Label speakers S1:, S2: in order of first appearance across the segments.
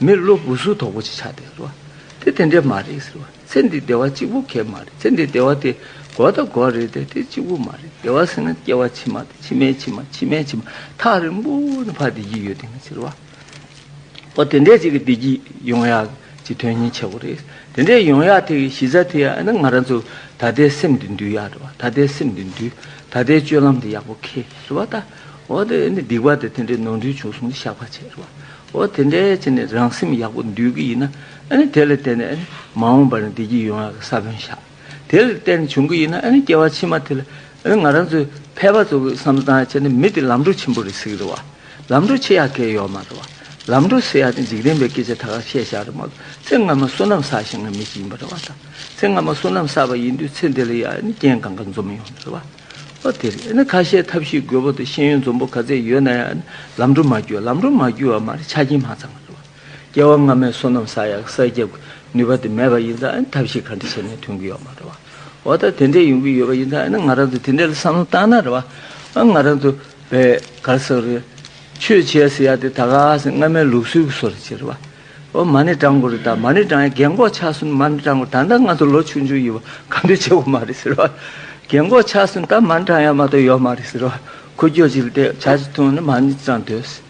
S1: མི་བློ་སྦུབ་གཟུགས་དོག་པོ་ཅིག་ཆགས་ཏེ་ཟེར་བ། དེ་དེ་འདྲས་མ་རེད་ཟེར་བ། ཚེ་འདི་བདེ་བ་གཅིག་པུ་གས་མ་རེད་ཚེ་འདི་བདེ་བ་དེ་འགོག་དང་འགོག་རེད་དེ་དེ་གཅིག་པུ་མ་རེད་བདེ་བ་ཟེར་ན་སྐྱེ་བ་ཕྱི་མ་དང་ཕྱི་མའི་ཕྱི་མ་ཕྱི་མའི་ཕྱི་མ་ཐག་རིང་པོ་ནས་ཕར་བདེ་སྐྱིད་ཡོད་དེ་ངས་ཟེར་བ། ཨོ་དེ་འདྲས་ཅིག་གི་བདེ་སྐྱིད་ཡོང་ཡག་ཅིག་དོན་སྙིང་ཆེ་བོ་རེད་དེ་འདྲས་ཡོང་ཡག་དེ་གི་གཞི་རྩ་དེ་ཡང་ཨ་ན་ང་རང་ཚོ་ད་ལྟའི་སེམས་འདི་འདུལ་ཡག་རེད་བ་ད་ལྟའི་སེམས་འདི་འདུལ་ད་ལྟའི་སྤྱོད་ལམ་འདི་ཡག་པོ་ཁེལ་རེད་བ་ད་ཨོ་དེ་ནི་སྡིག་པ་དེ་དེ་འདྲས་ནོར་འཁྲུལ་བྱུང་སོང་ནི་བཤགས་པ་བྱས་རེད་བ། འོ་དེ་འདྲའི་ཚེ་ནི་རང་སེམས་ཡག་པོ་འདུལ་གྱི་ཡིན་ན་དེ་ལ་བརྟེན་ནས་མ་འོངས་པར་བདེ་སྐྱིད་ཡོང་བའི་ས་བོན་བཞག་དེ་ལ་བརྟེན་བྱུང་གི་ཡིན་ན་སྐྱེ་བ་ཕྱི་མ་དེ་ལ་ང་རང་ཚོས་ཕལ་པ་ཚོ་གིས་བསམ་སྟངས་བྱས་ན་མི་དེ་ལམ་འགྲོ་ཆེན་པོ་རེད་ཟེར་གི་རེད་བ། ལམ་འགྲོ་ཆེ་ཡག་གེ་ཡོད་མ་རེད་བ། ལམ་འགྲོ་ཟེར་ཡག་ནི་འཇིག་རྟེན་པའི་སྐད་ཆ་ད་ག་བཤད་བཞག་རེད་མ་གཏོགས་ཚེ་སྔ་མ་བསོད་ནམས་བསགས་ཤིང་ངན་མི་ཞིག་ཡིན་པ་རེད་བ་དང་ཚེ་སྔ་མ་བསོད་ནམས་བསགས་པ་ཡིན་དུས་ཚེ་འདི་ལ་ཡང་རྐྱེན་གང་ག་འཛོམས་ཡོང་རེད་བ། པ་དེ་རེད། ཁ་བཤད་ཐབས་ཤེས་དགོས་པོ་དེ་ཤེས་ཡོན་འཛོམས་པོ་ག་ཚད་ཡོད་ན་ཡང་ལམ་འགྲོ་མ་རྒྱུ་ལམ་འགྲོ་མ་རྒྱུ་བ་མ་རེད་ཆ་རྐྱེན་མང་ཙམ་མ་འདུག་སྐྱེ་བ་སྔ་མའི་བསོད་ནམས་བསགས་ཡག་གསར་རྒྱབ་ནུས་པ་དེ་མེད་པ་ཡིན་ཙང་ཐབས་ཤེས་ག་འདྲི་བྱས་ནས་ཐོན་གྱི་ཡོད་མ་རེད་བ། འོ་ད་དེ་འདྲས་ཡོང་གི་ཡོད་པ་ཡིན་ཙང་ང་རང་ཚོ་དེ་འདྲས་ལ་བསམ་བློ་བཏང་ན་རེད་བ། ང་རང་ཚོ་བས་ག་རེ་བསམ་རེད། ཆོས་བྱས་ཟེར་ཡག་དེ་ད་ག་ཟེ་སྔ་མའི་ལུགས་སྲོལ་གྱི་སོ་རེད་ཅེས་རེད་བ། ཨོ་མ་ནི་ཀྲང་གོ་རི་དང་མ་ནི་ཀྲང་ཡི་རྒན་འགོག་ཆགས་སོན་མ་ནི་ཀྲང་གོ་རི་ད་ལྟ་ང་ཚོ་ལོ་ཆུང་ཆུང་ཡིན་བ་ག་འདྲས་ཆེ་བོ་མ་རེད་ཟེར་བ། རྒན་འགོག་ཆགས་སོན་ད་མ་ནི་ཀྲང་ཡ་མ་གཏོགས་ཡོད་མ་རེད་ཟེར་བ། ཁོ་རྒྱོ་ཅི་ལ་བལྟས་བྱ་ཅི་ཐུང་ནི་མ་ནི་ཀྲང་འདོད་ཟེར།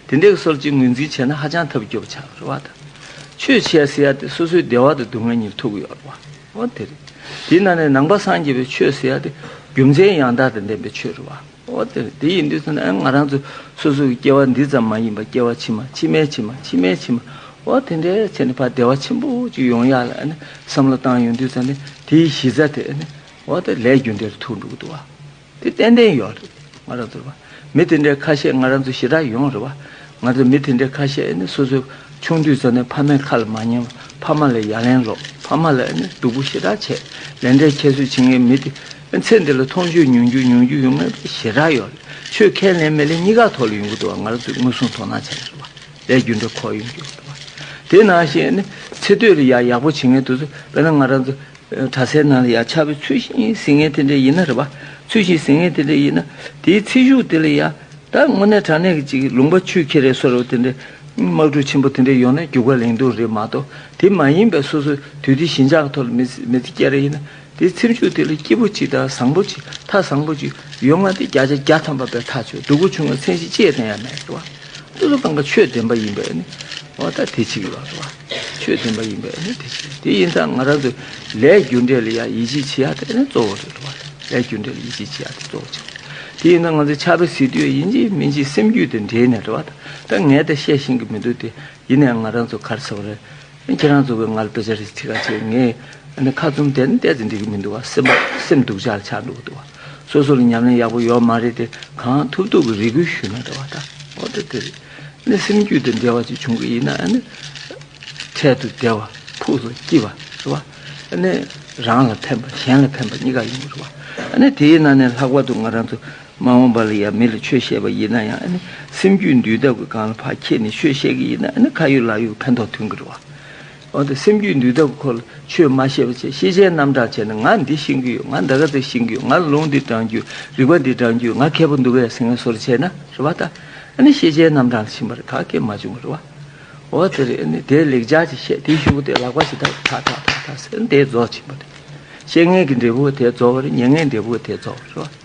S1: དེ་འདྲས་ཀྱི་སོར་གཅིག་ངོས་འཛིན་བྱས་ན་ཧ་ཅང་ཐབས་སྐྱོ་བོ་ཆགས་རེད་བ་དང། ཆོས་བྱས་ཟེར་ཡ་དེ་སོ་སོའི་བདེ་བ་དང་སྡུག་བསྔལ་གཉིས་ཐུག་གི་ཡོད་རེད་བ། འོ་དེ་རེད། དེས་ན་ནི་ནང་པ་སངས་རྒྱས་པའི་ཆོས་ཟེར་ཡ་དེ་རྒྱུ་མཚན་ཡང་དག་དང་ལྡན་པའི་ཆོས་རེད་བ། འོ་དེ་དེ་ཡིན་དུས་ཚོད་ན་ང་རང་ཚོ་སོ་སོ་གི་སྐྱེ་བ་འདི་ཙམ་མ་ཡིན་པ་སྐྱེ་བ་ཕྱི་མ་ཕྱི་མའི་ཕྱི་མ་ཕྱི་མའི་ཕྱི་མ་འོ་དེ་འདྲའི་ཚེ་ནི་ཕ་བདེ་བ་ཆེན་པོ་ཅིག་ཡོང་ཡག་ལ་བསམ་བློ་བཏང་ཡོང་དུས་ཚོད་ནི་དེའི་གཞི་རྩ་དེ་འོ་དེ་ལས་རྒྱུ་འབྲས་རུ་ཐུག་འགྲོ་གི་འདུག་བ་དེ་ཏན་ཏན་ཡོད་རེད་ང་རང་ཚོར་བ་མི་དེ་འདྲའི་ཁ་ཤས་ང་རང་ཚོ་ཞེ་དྲག་ཡོང་རེད་བ་ང་ཚོ་མི་དེ་འདྲའི་ཁ་ཤས་ནི་སོ་སོ་ཆུང་དུས་ཚོད་ནས་ཕ་མའི་ཁ་ལ་མ་ཉན་བ་ཕ་མ་ལ་ཡ་ལན་སློག་ཕ་མ་ལ་ནི་སྡུག་པོ་ཞེ་དྲག་བྱས་ལན་འབྲས་ཁྱད་གསོད་བྱེད་ངེས་མི་དེ། ཚེ་འདི་ལ་མཐོང་རྒྱུ་མྱོང་རྒྱུ་མྱོང་རྒྱུ་ཡོང་ངེས་པའི་ཞེ་དྲག་ཡོད། ཆོས་ཁས་ལེན་མི་ལེན་གཉིས་ཀ་ཐོག་ལ་ཡོང་གི་འདུག་བ་ང་རང་ཚོས་ངོས་བཟུང་དོ་སྣང་བྱ་ཡག་རེད་བ། ལས་རྒྱུ་འབྲས་ཁོག་ཡོང་རྒྱུ་རེད་བ། དེ་ནང་བཞིན་ནི་ཚེ་སྟོད་ལ་ཡག་ཡག་པོ་བྱེད་ངེས་འདུག་ཚུལ་དཔེར་ན་ང་རང་ཚོ་གྲྭ་སའི་ནང་ལ་ཡག་ཆ་བོའི་ཚུལ་བཞིན་ཟིན་ངེས་དེ་འདྲ་ཡིན་ན་རེད་བ། ཚུལ་བཞིན་ཟིན་ངེས་དེ་འདྲ་ཡིན་ན་དེའི་ཚེ་གཞུག་དེ་ལ་ཡག་ད་དངོས་གནས་དྲང་གནས་ཀྱི་ཅིག་ལུང་པ་ཆུ་ཁྱི་རེད་སོ་རེད་བ་དེ་འདྲའི་དམག་འཁྲུག་ཆེན་པོ་དེ་འདྲ་ཡོང་ན་རྒྱུ་སྐར་ལེང་རྡུང་རེད་མ་གཏོགས་དེ་མ་ཡིན་པའི་སོ་སོ་དུས་དེ་ཞེན་ཆགས་ཀྱི་ཐོག་ལ་མི་ཚེ་སྐྱེལ་རེ་ཡིན་ན། དེའི་ཚེ་མཆོད་དེ་ལ་སྐྱེས་བུ་གཅིག་དང་བཟང་པོ་གཅིག་མཐའ་བཟང་པོ་གཅིག་ཡོད་ང་སྟེ་བརྒྱ་ཆ་བརྒྱ་ཐམ་པ་པའི་ཐག་ཆོད་སྡུག་པོ་བྱུང་བའི་མཚན་གཞི་ཅེས་དང་ཡང་མེད་དོ། ཏུ་ཏུ་གང་ག་ཆོས་བདེན་པ་ཡིན་པས་ནི་འོ་ད་དེ་ཅིག་ལགས་སོ། ཆོས་བདེན་པ་ཡིན་པས་ནི་དེ་ཅིག་ལགས་དེ་ཡིན་ད་ང་རང་ཚོས་ལས་རྒྱུ་འབྲས་ལ་ཡང་ཡིད་ཆེས་བྱེད་ཡ་དེ་ནི་གཙོ་བོ་རེད་དོ། ལས་རྒྱུ་འབྲས་ལ་ཡིད་ཆེས་བྱེད་ཡ་དེ་གཙོ་བོ་ཅིག་རེད་དེ་ཡིན་ད་ང་ཚོས་ཆགས་པའི་ཟིལ་དུ་ཡ་ཡིན་གཅིག་མིན་གཅིག་སེམས་རྒྱུད་དེ་འདྲེས་ནས་འགྲོ་བ་ད་ངས་ད་བཤད་ཤེས་ཀྱི་མི་འདུག་དེ་ཡིན་ན་ཡང་ང་རང་ཚོ་གར་ཚེ་བ་རེད། ཁྱེད་རང་ཚོ་གི་ང་ལ་དཔེ་ཆ་རིགས་ཁྲི་ཁ་ཆེ་ངས་ཁ་བཙུམ་དེ་བལྟས་ཚེ་འགྲིག་གི་མི་འདུག་སེམས་པ་སེམས་སྡུག་ཅག་ཆགས་འདུག་འདུག་སོ་སོ་ལ་ཉམས་ལེན་ཡག་པོ་ཡོད་མ་རེད་དེ་གང་ཐུབ་ཐུབ་ཀྱི་རེ་སྐུལ་ཞུས་ན་འདྲ་བ་ད་ཨོ་དེ་དེ་རེད་ནས་སེམས་རྒྱུད་དེ་འབྲེལ་བ་ཅིག་བྱུང་གི་ཡིན་ན་ནི་འཕྲལ་དུ་བདེ་བ་ཕུགས་སུ་སྐྱིད་པ་རེད་བ་ནི་རང་ལ་ཕན་པ་གཞན་ལ་ཕན་པ་གཉིས་ཀ་ཡོང་གི་རེད་བ་ནི་དེའི་ནང་ནས་ལྷག་པར་དུ་ང་རང་ཚོ། མ་འོངས་པ་ལ་ཡང་མི་ལ་ཆོས་བཤད་པ་ཡིན་ན་ཡང་ཨ་ནི་སེམས་རྒྱུད་འདུལ་ཐབས་ཀྱི་སྒང་ལ་ཕར་ཁྱེད་ནས་ཆོས་བཤད་ཀྱི་ཡིན་ན་ཨ་ནི་ཁ་ཡོད་ལག་ཡོད་ཕན་ཐོགས་ཐུན་གྱི་རེད་བ། འོ་ན་སེམས་རྒྱུད་འདུལ་ཐབས་ཀྱི་སྐོར་ལ་ཆོས་མ་བཤད་པ་བྱས་ཤེས་བྱའི་རྣམ་གྲངས་བྱས་ན་ང་འདི་ཤེས་ཀྱི་ཡོད་ང་འདའ་ཀ་འདི་ཤེས་ཀྱི་ཡོད་ང་ལ་ལུང་འདི་དྲངས་རྒྱུ་ཡོད་རིག་པ་འདི་དྲངས་རྒྱུ་ཡོད་ང་མཁས་པོ་འདུག་གས་ཟེར་ངེས་སོར་བྱས་ན་རེད་བ་ད་ཨ་ནི་ཤེས་བྱའི་རྣམ་གྲངས་ལ་ཕྱིན་པ་རེད་ག་སྐད་མ་བྱུང་གི་རེད་བ། འོ་དེ་རེད་ཨ་ནི་དེ་ལེགས་སྦྱར་གྱིས་བཤད་དེའི་ཤུགས་དེ་ལག་པ་ཞིག་ཐག་ཐག་ཐག་ཐག་ཐག་ཟེར་ན་དེ་རྫོགས་ཕྱིན་པ་རེད། བཤད་ངན་གྱི་འབྲས་བུ་བ་དེ་རྫོགས་བ་རེད་ཉན་ངན་འབྲས་བུ་བ་དེ་རྫོགས་བ་རེད་བ།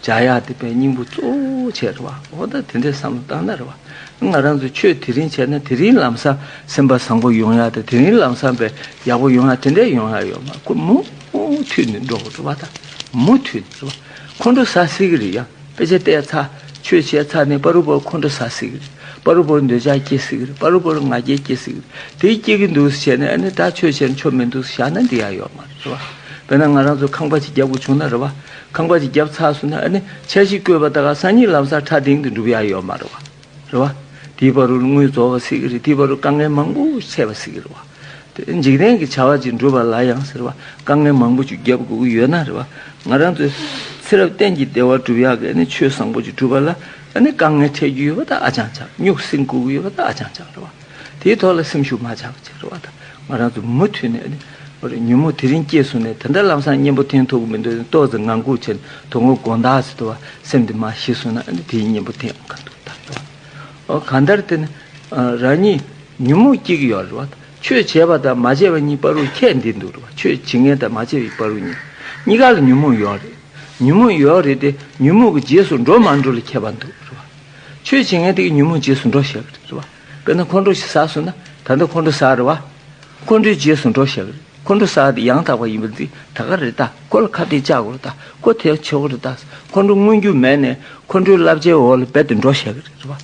S1: བྱ་ཡག་འདི་པའི་སྙིང་པོ་གཙོ་བོ་བྱས་རེད་བ་འོ་ད་དེ་འདྲའི་བསམ་བློ་བཏང་ན་རེད་བ་ང་རང་ཚོས་ཆོས་དེ་རིང་བྱས་ན་དེ་རིང་ལམ་སང་སེམས་པ་བཟང་པོ་ཡོང་ཡག་དེ་དེ་རིང་ལམ་སང་པའི་ཡག་པོ་ཡོང་ཡག་དེ་འདྲའི་ཡོང་ཡག་ཡོད་མ་ཁོ་མུ་མཐུད་ནས་འགྲོ་དགོས་རེད་བ་ད་མུ་མཐུད་ནས་རེད་བ་ཁོང་ཁྲོ་ཟ་སྲིད་གི་རེད་ཡང་དཔེ་ཆ་བལྟས་ཚ་ཆོས་བྱས་ཚ་ནས་པ་རུ་པོར་ཁོང་ཁྲོ་ཟ་སྲིད་གི་རེད་པ་རུ་པོར་འདོད་ཆགས་སྐྱེ་སྲིད་གི་རེད་པ་རུ་པོར་ང་རྒྱལ་སྐྱེ་སྲིད་གི་རེད་དེ་སྐྱེ་གི་འདུག་བྱས་ནས་ཨ་ནི་ད་ཆོས་བྱས་ན་ཆོ་མི་འདུག་བཞག་ན་འདི་ཡག་ཡོད་མ་རེད་བ་དཔེར་ན་ང་རང་ཚོ་ཁང་པ་ཅིག་རྒྱག་དགོས་བྱུང་ན་རེད་བ། ཁང་པ་ཅིག་རྒྱབ་ཚགས་སུ་ན་ནི་ཆ་བཞི་བཀོད་པ་དག་གསང་སྙིང་ལམ་སར་ཕྲ་སྡིང་དུ་འགྲུབ་ཡག་ཡོག་མ་རེད་བ། རེད་བ། དེའི་བར་རུ་དངུལ་རྫོགས་བ་སྲིད་ཀྱི་རེད་དེའི་བར་རུ་དཀའ་ངལ་མང་པོ་ཞིག་འཕྲད་བ་སྲིད་ཀྱི་རེད་བ། དེ་འཇིག་རྟེན་གྱི་བྱ་བ་ཅིག་འགྲུབ་པ་ལ་ཡང་ཟེར་བ་དཀའ་ངལ་མང་པོ་ཅིག་རྒྱབ་དགོས་ཀྱི་ཡོད་ན་རེད་བ། ང་རང་ཚོའི་ཚེ་རབས་གཏན་གྱི་བདེ་བ་སྒྲུབ་ཡག་གི་ནི་ཆོས་བཟང་པོ་ཅིག་སྒྲུབ་པ་ལ་ནི་དཀའ་ངལ་འཕྲད་རྒྱུ་ཡོད་པ་དག་ཨ་ཅང་ཆགས་སྨྱུག་སྲིང་བཀུག་གི་ཡོད་པ་དག་ཨ་ཅང་ཆགས་རེད་བ། དེའི་ཐོག་ལ་སེམས་ཤུགས་མ་ཆག་པ་བྱེད་དགོས་པ་དང་ང་རང་ཚོ་མུ་མཐུད་ནས་ཉོན་མོངས་དེ་རིང་སྐྱེས་བཟུང་ནས་དེ་འདྲ་ལམ་སང་གཉེན་པོ་འཐེན་ཐུབ་མི་འདུག་ཏོག་ཙེ་ངང་སྒུག་བྱས་ནས་དོ་ངོ་དགོངས་དག་བྱེད་དུ་བ་སེམས་དེ་མ་ཞི་སོང་ན་དེའི་གཉེན་པོ་འཐེན་ག་འདུག་ད་རེད་བ། གང་ལྟར་དེ་ནི་རང་ཉིད་ཉོན་མོངས་སྐྱེ་གི་ཡོད་རེད་བ། ཆོས་བྱས་པ་དང་མ་བྱས་པ་གཉིས་པ་རུ་ཁྱད་འདི་འདུག་རེད་བ་ཆོས་བྱེད་མཁན་དང་མ་བྱེད་པའི་པ་རུ་གཉིས་གཉིས་ཀ་ལ་ཉོན་མོངས་ཡོད་རེད། ཉོན་མོངས་ཡོད་རེད་དེ་ཉོན་མོངས་ཀྱི་རྗེས་སུ་འགྲོ་མ་འགྲོ་ལ་ཁྱད་པ་འདུག་རེད་བ། ཆོས་བྱེད་མཁན་དེའི་ཉོན་མོངས་རྗེས་སུ་འགྲོ་ཞེས་པ་རེད། དཔེར་ན་ཁོང་ཁྲོ་ཞིག་ཟ་སོང་ན་ད་ལྟ་ཁོང་ཁྲོ་ཟ་རེད་བ། ཁོང་ཁྲོའི་རྗེས་སུ་འགྲོ་ཞེས་པ་རེད། ཁོང་ཁྲོ་ཟ་དེ་ཡང་དག་པ་ཡིན་པ་འདི་ད་ག་རེད་ད་ཁོ་ལ་ཁ་གཏད་བཅག་དགོས་རེད་ད་ཁོ་དེ་ཡང་ཆོས་གོ་རེད་ད་ཁོང་ཁྲོ་མངོན་རྒྱུ་མེད་ནས་ཁོང་ཁྲོའི་བསླབ་བྱའི་འོག་ལ་རྦད་དེ་འགྲོ་ཞེས་པ་རེད་བ།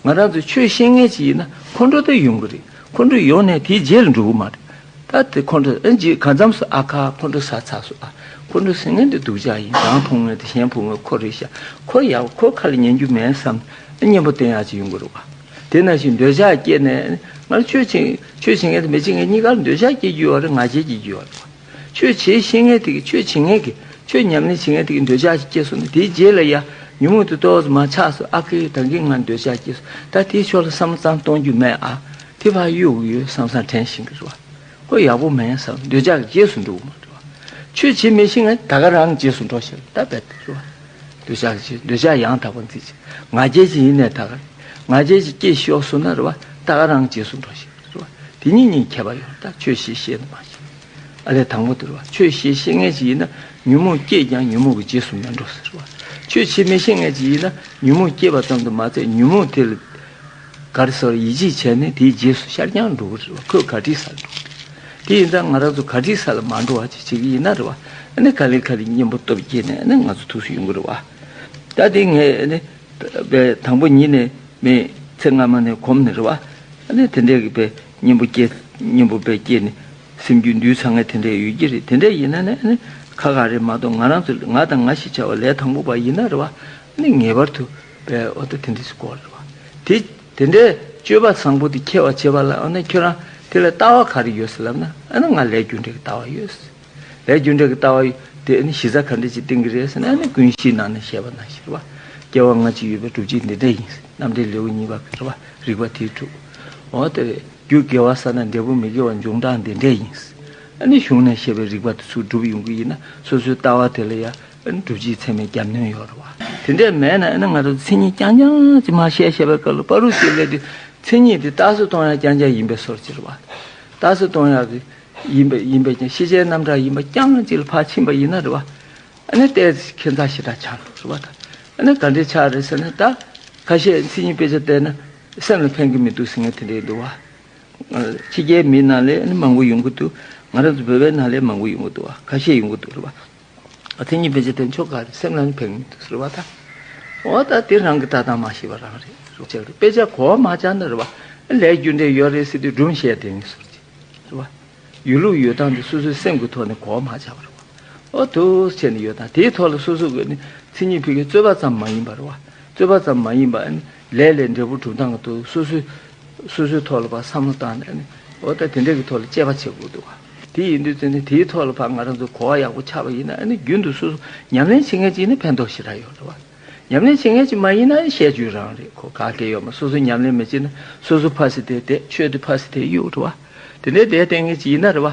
S1: ང་རང་ཚོ་ཆོས་ཤེས་མཁན་ཞིག་ཡིན་ན་ཁོང་ཁྲོ་དེ་ཡོང་གི་རེད་ཁོང་ཁྲོ་ཡོང་ནས་དེའི་རྗེས་ལ་འགྲོ་གི་མ་རེད། ད་དེ་ཁོང་ཁྲོ་ཨེ་འཇིགས་གང་འཚམས་སུ་ཨ་ཁ་ཁོང་ཁྲོ་ས་ཚགས་སུ་ཨ་ཁོང་ཁྲོ་ཟིང་ངེ་འདི་སྡུག་ཅག་ཡིན་རང་ཕུང་ངེ་འདི་གཞན་ཕུང་ངེ་ཁོ་རེ་ཤ་ཁོ་ཡ་བ་ཁོ་ཁ་ལ་ཉན་རྒྱུ་མེད་བསམ་ཨེ་གཉེན་པོ་བསྟེན་ཡག་ཅིག་ཡོང་གི་རུག་ཨ་དེ་ན་ཞིག་འདོད་ཆགས་སྐྱེས་ནས་ང་ར་ཆོས་བྱེད་ཆོས་བྱེད་ངེ་དང་མི་བྱེད་ངེ་གཉིས་ཀ་ལ་འདོད་ཆགས་སྐྱེས་རྒྱུ་ཡོད་རེད་ང་བྱེད་བྱེད་རྒྱུ་ཡོད་རེད་ཆོས་བྱེད་ཤེས་ངེ་དེ་གི་ཆོས་བྱེད་ངེ་གི་ཆོས་ཉམས་ལེན་བྱེད་ངེ་དེ་གི་འདོད་ཆགས་ཤིག་སྐྱེས་སོང་ནི་དེའི་རྗེས་ལ་ཡ་ཉུང་ངུ་དེ་ཏོག་ཙམ་མ་ཆགས་སུ་ཨ་ཁེ་ཡོད་ད་གིན་ང་འདོད་ཆགས་སྐྱེས་སོང་ད་དེའི་ཕྱོགས་ལ་བསམ་བློ་གཙང་གཏོང་རྒྱུ་མེད་ཨ། ཐིག་ཕ་ཡུལ་དབུགས་ཡོད་བསམ་བསམ་དྲན་བཞིན་གྱི་རེ་བ། ཧོ་ཡག་པོ་མེད་བསམ་འདོད་ཆགས་ཀྱི་རྗེས་སུ་འགྲོ་མ་འགྲོ། ཆོས་བྱེད་མི་ཤེས་ང་ད་ག་རང་གི་རྗེས་སུ་འགྲོ་ཞེས་བལྟ་བལྟ་གི་རེ་བ། འདོད་ཆགས་ཀྱི་རྗེས་འདོད་ཆགས་ཡང་དག་པར་འཛིན་བྱེད་ང་རྒྱལ་གྱི་ཡེ་ནས་ད་ག་རེད་ང་རྒྱལ་གྱི་སྐྱེ་ཤོག་སུ་ན་རེ་བ་ད་ག་རང་གི་རྗེས་སུ་འགྲོ་ཞེས་པའི་རེ་བ་དེ་གཉིས་གཉིས་ཁྱད་པར་ཡང་དག་ཆོས་ཤེས་ཤེས་ནི་མ་ཤེས། ཨ་ལས་དང་པོ་དེ་རེ་བ་ཆོས་ཤེས་ཤེས་ངེས་ཀྱི་ཡིན་ན་ཉོན་མོངས་སྐྱེས་ཀྱང་ཉོན་མོངས་ཀྱི་རྗེས་སུ་མི་འགྲོ་ཟེར་རེ་བ་ཆོས་བྱེད་མི་ཤེས་ངེས་ཀྱི་ཡིན་ན་ཉོན་མོངས་སྐྱེས་པ་ཙམ་དུ་མ་ཚད་ཉོན་མོངས་དེ་ལ། ག་རེ་སོགས་ཡིད་ཆེས་བྱས་ནས་དེའི་རྗེས་སུ་ཤར་རྐྱང་འགྲོ་གི་རེད་བ་ཁོས་ག་དྲི་ཟ་ལ་འགྲོ་གི་རེད་དེ་ཡིན་ཙང་ང་རང་ཚོ་ག་དྲི་ཟ་ལ་མ་འགྲོ་བ་ཅིག་བྱེད་ཀྱི་ཡིན་ན་རེད་བ་ནི་ག་ལེ་ག་ལེ་གཉེན་པོ་སྟོབས་རྒྱས་ནས་ནི་ང་ཚོ་ཐུགས་སུ་ཡོང་གི་རེད་བ། ད་དེ་ངས་ནི་བས་དང་པོ་ཉིད་ནས་མི་ཚེ་སྔ་མ་ནས་གོམས་ནས་རེད་བ་ནི་དེ་འདྲས་ཀྱི་བས་གཉེན་པོ་སྐྱེས་གཉེན་པོ་བས་སྐྱེས་ནས་སེམས་རྒྱུད་འདུས་ཚང་ངས་དེ་འདྲས་ཡོད་ཀྱི་རེད་དེ་འདྲས་ཡིན་ན་ནི་ཁ་ཁ་རེད་མ་གཏོགས་ང་རང་ཚོ་ང་དང་ང་ཞེས་བྱ་བ་ལས་དང་པོ་བ་ཡིན་ན་རེད་བ་ནི་ངེས་པར་དུ། པའི་འོ་ད་དེ་འདི་སུ་གོ་རེད་བ། དེ་དེ་འདྲའི་སྤྱོད་པ་བཟང་པོ་དེ་ཁྱེར་བ་བྱེད་པ་ལ་འོ་ན་ཁྱོད་རང་དེ་ལ་ལྟ་བ་ག་རེ་ཡོད་ལབ་ན་འོ་ན་ང་ལས་རྒྱུ་འབྲས་ཀྱི་ལྟ་བ་ཡོད། ལས་རྒྱུ་འབྲས་ཀྱི་ལྟ་བ་ཡོད་དེ་འོ་ན་གཞི་རྩ་ག་འདྲ་ཅིག་བཏིང་གི་རེད་ཟེར་ན་འོ་ན་ཀུན་གཞིའི་ནང་ནས་བཤད་པ་ན་ཤེས་རེད་བ། སྐྱེ་བ་སྔ་ཕྱི་ཡོད་པའི་གྲུབ་བྱེད་འདི་འདྲ་ཡིན་རྣམ་འགྲེལ་ལེའུ་གཉིས་པ་ག་རེད་བ་རིགས་པ་དེའི་དྲུག། འོ་ད་རེད་རྒྱུ་དགེ་བ་ས་ན་འབྲས་བུ་མི་དགེ་བ་འབྱུང་གྲངས་འདི་འདྲ་ཡིན། འོ་ན་གཞུང་ནས་བཤད་པའི་རིགས་པ་དེ་ཚུར་སྒྲུབ་ཡོང་གི་ཡིན་ན་སོ་སོའི་ལྟ་བ་དེ་ལ་ཡ། འགྲུལ་སྤྱིའི་ཚད་མའི་རྒྱབ་གནོན་ཡོད་རེད་བ། དེ་འདྲས་མེད་ན་ཡིན་ན་ང་ཚོ་མཚན་ཉིད་རྐྱང་རྐྱང་ཅིག་མ་བཤད་ཤེས་པའི་སྐབས་ལ་པཱ་རུ་སིའི་ལས་དེ་མཚན་ཉིད་དེ་རྟགས་སུ་སྟོང་ཡག་རྐྱང་རྐྱང་ཡིན་པའི་སོར་ཅིག་རེད་བ། རྟགས་སུ་སྟོང་ཡག་ཡིན་པ་ཡིན་པས་ཀྱང་ཤེས་བྱའི་རྣམ་གྲངས་ཡིན་པ་རྐྱང་ཅིག་ལ་ཕར་ཕྱིན་པ་ཡིན་ན་རེད་བ། ཨ་ནི་ལྟས་ཁྱེད་མཚང་ཞེ་དྲག་ཆགས་འདུག་རེད་བ་ད། ཨ་ནི་ག་འདྲའི་ཆགས་རེད་ཟེར་ན་ད། ཁ་ཤས་མཚན་ཉིད་དཔེ་ཆ་བལྟས་ན་སེམས་ལ་ཕན་གྱི་མི་འདུག་ཟེར་མཁན་དེ་འདྲ་ཡིན་འདུག་བ། ཕྱི་རྒྱལ་མི་ནང་ལས་ཨ་ནི་མང་པོ་ཡོང་གི་འདུག་ང་རང་ཚོ་བོད་པའི་ནང་ལས་མང་པོ་ཡོང་གི་འདུག་བ་ཁ་ཤས་ཡོང་གི་འདུག་རེད་བ། དེ་གཉིས་བེད་སྤྱད་དེ་མཆོག་དགའ་བའི་སེམས་ལ་ནི་ཕན་མི་འདུག་ཟེར་བ་དང། འོ་ད་དེ་རང་གི་ལྟ་སྟངས་མ་ཤེས་པ་རང་རེད་ཟེར་བྱས་ལ་དཔེ་ཆ་གོ་བ་མ་བྱ་ན་རེ་བ་ལས་རྒྱུ་འབྲས་ཡོད་རེད་ཟེར་དུས་སྒྲུང་བཤད་དེ་ནི་ཟུར་བཅད་རེད་བ། ཡོད་ལུགས་ཡོད་སྟངས་དེ་སོ་སོའི་སེམས་ཀྱི་ཐོག་ནས་གོ་བ་མ་བྱ་བ་རེད་བ། འོ་དུས་ཆད་ནས་ཡོད་སྟངས་དེའི་ཐོག་ལ་སོ་སོ་གིས་ནི་ཚིག་གཉིས་ཕུལ་མཁན་རྩོད་པ་ཙམ་མ་ཡིན་པ་རེད་བ། རྩོད་པ་ཙམ་མ་ཡིན་པ་ནི་ལས་ལས་འབྲས་བུ་གྲུབ་སྟངས་ཀྱི་ཐོག་སོ་སོའི། སོ་སོའི་ཐོག་ལ་བ་བསམ་བློ་བཏང་ནས་ནི། འོ་ད་དེ་འདྲས་ཀྱི་ཐོག་ལ་དཔྱད་པ་བྱེད་དགོས་འདུག་ག། དེ་ཡིན་དུས་ཚོད་ནི་དེའི་ཐོག་ལ་བ་ང་རང་ཚོ་གོ་བ་ཡག་པོ་ཆགས་པ་ཡིན་ན་ནི་རྒྱུན་དུ་སོ་སོ་ཉམས་ལེན་བྱེད་མཁན་ཅིག་ནི་ཕན་ཐོགས་ཞེ་དྲག་ཡོད་རེད་བ། ཉམས་ལེན་བྱེད་མཁན་ཅིག་མ་ཡིན་ན་ནི་བཤད་རྒྱུའི་རང་རེད་གོ་ག་གེ་ཡོད་མ་སོ་སོ་ཉམས་ལེན་མི་བྱེད་ན་སོ་སོ་ཕ་སི་དེ་བསྡད་ཆོས་དེ་ཕ་སི་དེ་གཡུག་རེད་བ། དེ་འདྲའི་བསྡད་བསྡད་མཁན་ཅིག་ཡིན་ན་རེད་བ།